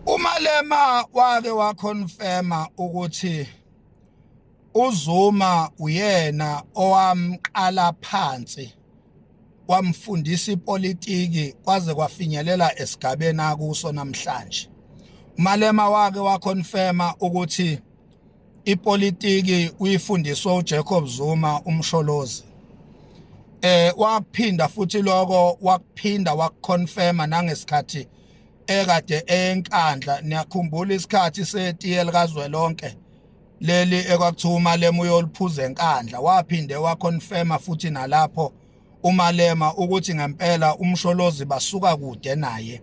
umalema wake waconfirma ukuthi uZuma uyena owamqala phansi wamfundisa ipolitiki kwaze kwafinyelela esigabeni akuso namhlanje umalema wake waconfirma ukuthi ipolitiki uyifundiswa uJacob Zuma umsholozi eh waphinda futhi lokho wakuphinda wakuconfirma nangesikhathi ekade enkandla niyakhumbula isikhathi setiye likazwelonke leli ekwakuthiwa umalema uyoliphuza enkandla waphinde waconfirma futhi nalapho uMalema ukuthi ngempela umsholozi basuka kude naye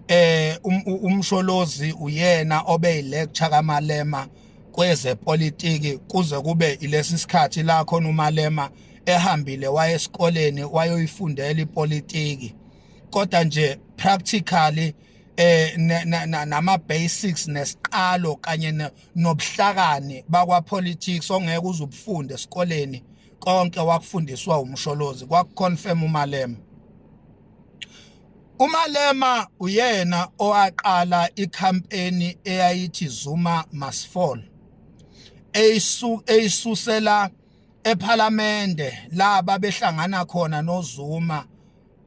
eh um, umsholozi uyena obe lecture kaMalema kwezepolitiki kuze kube ilesi sikhathi la khona uMalema ehambile waye esikoleni wayoyifundela ipolitiki kodwa nje practically eh nama basics nesiqalo kanye nobuhlakani bakwa politics ongeke uzubufunde esikoleni konke wakufundiswa umsholozi kwakuconfirm umalema umalema uyena owaqala icampaign eyayithi Zuma must fall eyisu eyisusela ephalamende laba behlangana khona noZuma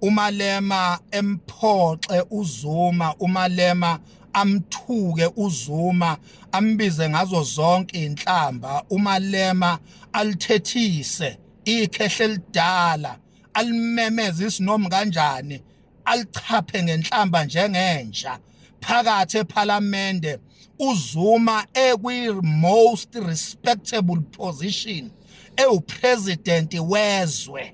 umalema emphoxe uzuma umalema amthuke uzuma ambize ngazo zonke inhlamba umalema alithethise ikhehle lidala alimemeza isinomu kanjani alichaphe ngenhlamba njengenja phakathi ephalamende uzuma ekwi-most respectable position ewupresident wezwe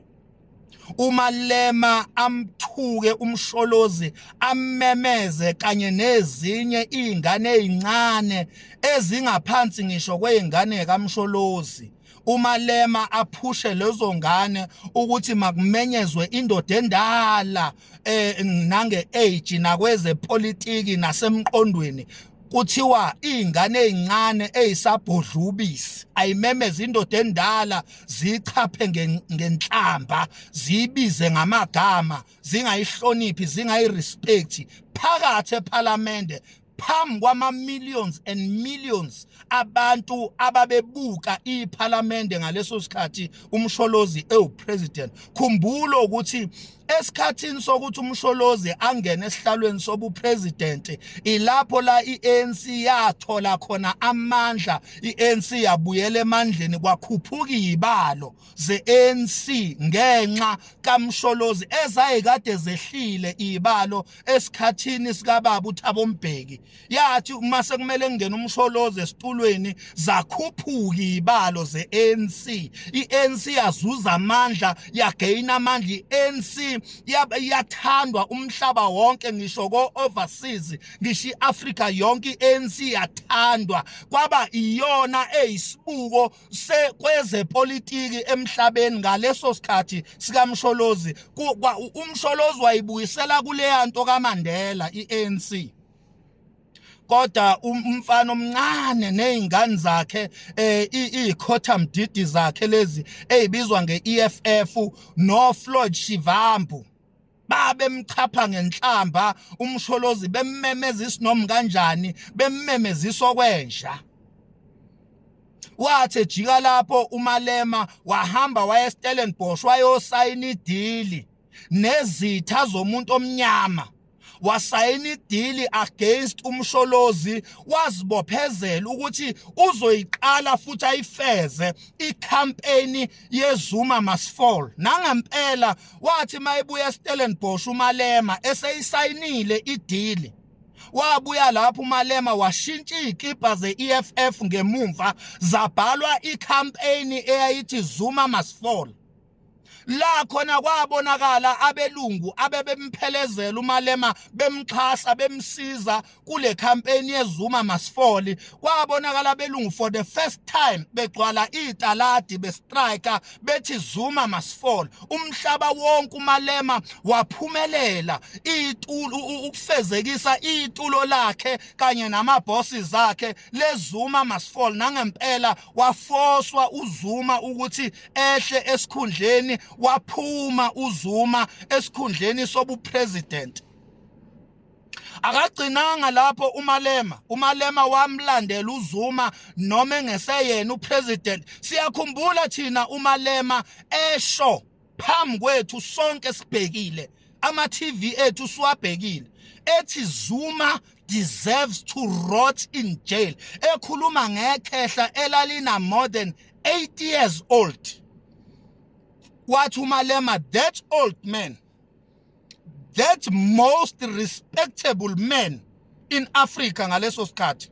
umalema amthuke umsholozi ammemeze kanye nezinye izingane ezincane ezingaphansi ngisho kweingane kamsholozi umalema aphushe lezo ngane ukuthi makumenyezwe indoda endala eh nange age nakweze politiki nasemqondweni kuthiwa izingane ezincane ezisabhodlubisi ayimemeza indoda endala zichaphe ngenhlamba zibize ngamagama zingayihloniphi zingayirespect phakathi ePhalamende phambi kwama-millions and millions abantu ababebuka iphalamende ngaleso sikhathi umsholozi ewupresident khumbula ukuthi esikhathini sokuthi umsholozi angene esihlalweni sobupresident ilapho la i-ANC yathola khona amandla i-ANC yabuyela emandleni kwakhuphuka ibalo ze-ANC ngenxa kaMsholozi ezayekade zehlile ibalo esikhathini sikababa uThabo Mbheki yathi uma sekumele kungena uMsholozi esitulweni zakhuphuka ibalo ze-ANC i-ANC yazuza amandla yagaina amandla i-ANC yathandwa umhlaba wonke ngisho ko-overseas ngisho i-Africa yonke i-ANC yathandwa kwaba iyona eyisibuko kwezepolitiki emhlabeni ngaleso sikhathi sikamsholozi umsholozi wayibuyisela kuleya nto kamandela i-anc kodwa um, umfana omncane nezingane zakhe eh ikhotha mdidi zakhe lezi ezibizwa ngeEFF no Floyd Shivambu babemchapha ngenhlamba umsholozi bemmemeza isinomi kanjani bemmemeza isokwenja wathi ejika lapho umalema wahamba waya eStellenbosch wayosayina idili nezitha zomuntu omnyama wasayina idili against umsholozi wazibophezela ukuthi uzoyiqala futhi ayifeze icampaign yezuma must fall nangempela wathi mayebuya eStellenbosch uMalema eseyisayinile idili wabuya lapho uMalema washintsha izikipa ze-EFF ngemumva zabhalwa icampaign eyayithi Zuma must fall la khona kwabonakala abelungu abebemphelezela uMalema bemxhasa bemsiza kule campaign yeZuma masifoli kwabonakala belungu for the first time begcwala italadi bestrika bethi Zuma masifoli umhlaba wonke umalema waphumelela itulo ukufezekisa itulo lakhe kanye nama bosses akhe lezuma masifoli nangempela wafoswa uZuma ukuthi ehle esikhundleni waphuma uZuma esikhundleni sobu president akagcinanga lapho umalema umalema wamlandela uzuma noma engeseyena upresident siyakhumbula thina umalema esho phambi kwethu sonke sibhekile ama TV ethu siwabhekile ethi Zuma deserves to rot in jail ekhuluma ngekhehla elalina more than 8 years old wathi umalema that old man that most respectable man in Africa ngaleso sikhathi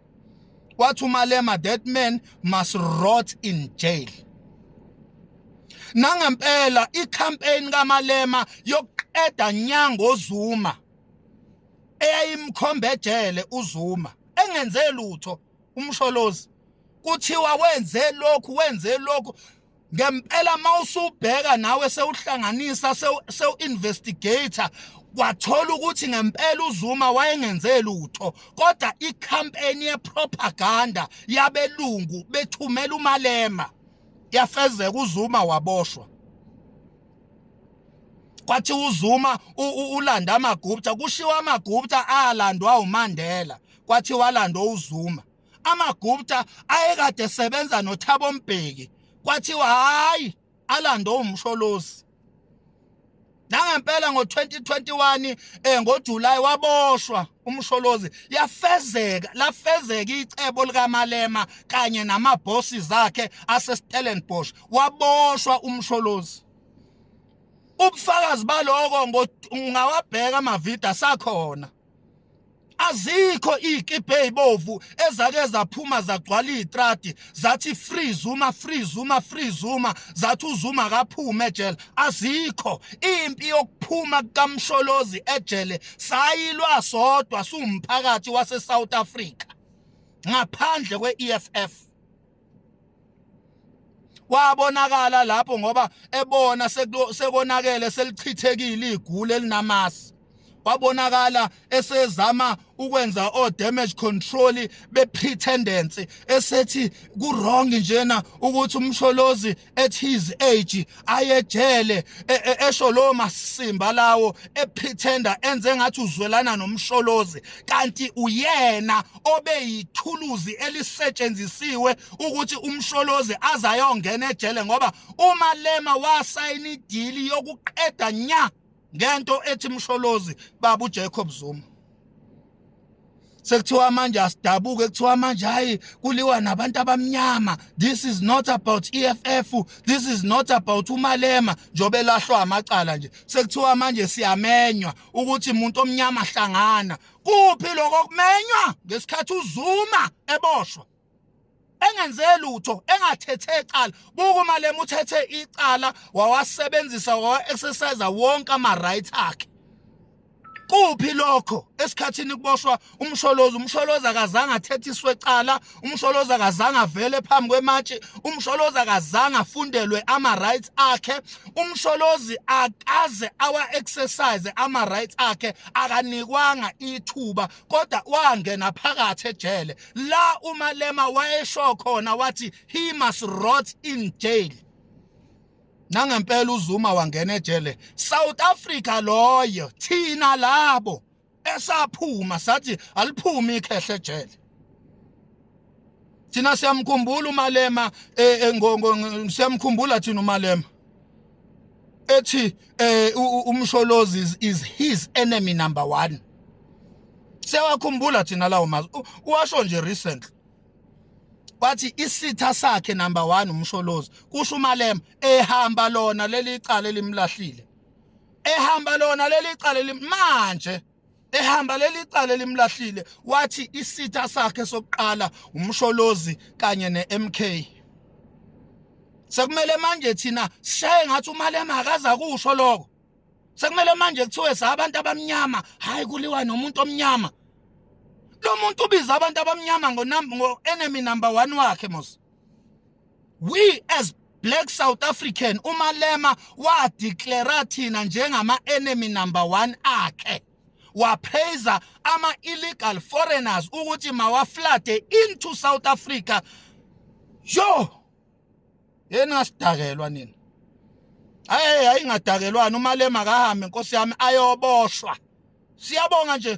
wathi umalema that man must rot in jail nangempela icampaign kamalema yokuqeda nyango Zuma eyayimkhombe ejele uZuma engenze lutho umsholozi kuthiwa wenze lokhu wenze lokhu ngempela mawusubheka nawe sewuhlanganisa sewu investigator kwathola ukuthi ngempela uZuma wayengenze lutho kodwa icampaign yepropaganda yabelungu bethumela umalema yafezeka uZuma waboshwa kwathi uZuma ulanda amagupta kushiwa amagupta alandwa uMandela kwathi walandwa uZuma amagupta ayekade sebenza nothabo mbheki kwathiwa hayi alande umsholozi nangempela ngo-2021 eh ngoJuly waboshwa umsholozi yafezeka lafezeka icebo likaMalema kanye namabossi zakhe aseStellenbosch waboshwa umsholozi ubufakazi baloko ngawabheka amavidio asakhona azikho iy'kibhe ey'bovu ezake zaphuma zagcwala iy'tradi zathi free zuma free zuma free zuma zathi uzuma akaphume ejele azikho impi yokuphuma kukamsholozi ejele sayilwa sodwa siwumphakathi wase-south africa ngaphandle kwe-eff wabonakala lapho ngoba ebona sekonakele selichithekile igule elinamasi wabonakala esezama ukwenza o damage control be pretendence esethi ku wrong njena ukuthi umsholozi at his age ayejele e, e, esho lo masimba lawo ephithenda enze ngathi uzwelana nomsholozi kanti uyena obeyithuluzi elisetshenzisiwe ukuthi umsholozi azayongena ejele ngoba umalema wasayina idili yokuqeda nya ngento ethi msholozi babu Jacob Zuma sekuthiwa manje asidabuke kuthiwa manje hayi kuliwa nabantu abamnyama this is not about EFF this is not about umalema njobe elahlwa amacala nje sekuthiwa manje siyamenywa ukuthi umuntu omnyama hlangana kuphi lokho kumenywa ngesikhathi uzuma eboshwa engenze lutho engathethe icala buka uma lema uthethe icala wawasebenzisa wawa-exercise wonke ama-right akhe kuphi lokho esikhathini kuboshwa umsholozi umsholozi akazange athethiswe ecala umsholozi akazange avele phambi kwematshi umsholozi akazange afundelwe ama-rights akhe umsholozi akaze awa-exercise ama-rights akhe akanikwanga ithuba kodwa wangena phakathi ejele la umalema wayesho khona wathi he must rot in jail nangempela uzuma wangena ejele south africa loyo thina labo esaphuma sathi aliphumi ikhehle ejele thina siyamkhumbula umalema eh, eh, ngongo siyamkhumbula thina umalema ethi eh umsholozi is, is his enemy number 1 sewakhumbula thina lawo mazwi uwasho nje recently wathi isitha sakhe number 1 umsholozi kusho umalema ehamba lona leli cala elimlahlile ehamba lona leli cala manje ehamba leli cala elimlahlile wathi isitha sakhe sokuqala umsholozi kanye neMK sekumele manje thina sishaye ngathi umalema akaza kusho lokho sekumele manje kuthiwe sabantu abamnyama hayi kuliwa nomuntu omnyama lo muntu ubiza abantu abamnyama ngo enemy number 1 wakhe mos we as black south african umalema wadeclara thina njengama-enemy number one akhe wapraiser ama-illegal foreigners ukuthi mawaflade into south africa yo yeni ngasidakelwa nina hayi hayi ngadakelwani umalema kahambe nkosi yami ayoboshwa siyabonga nje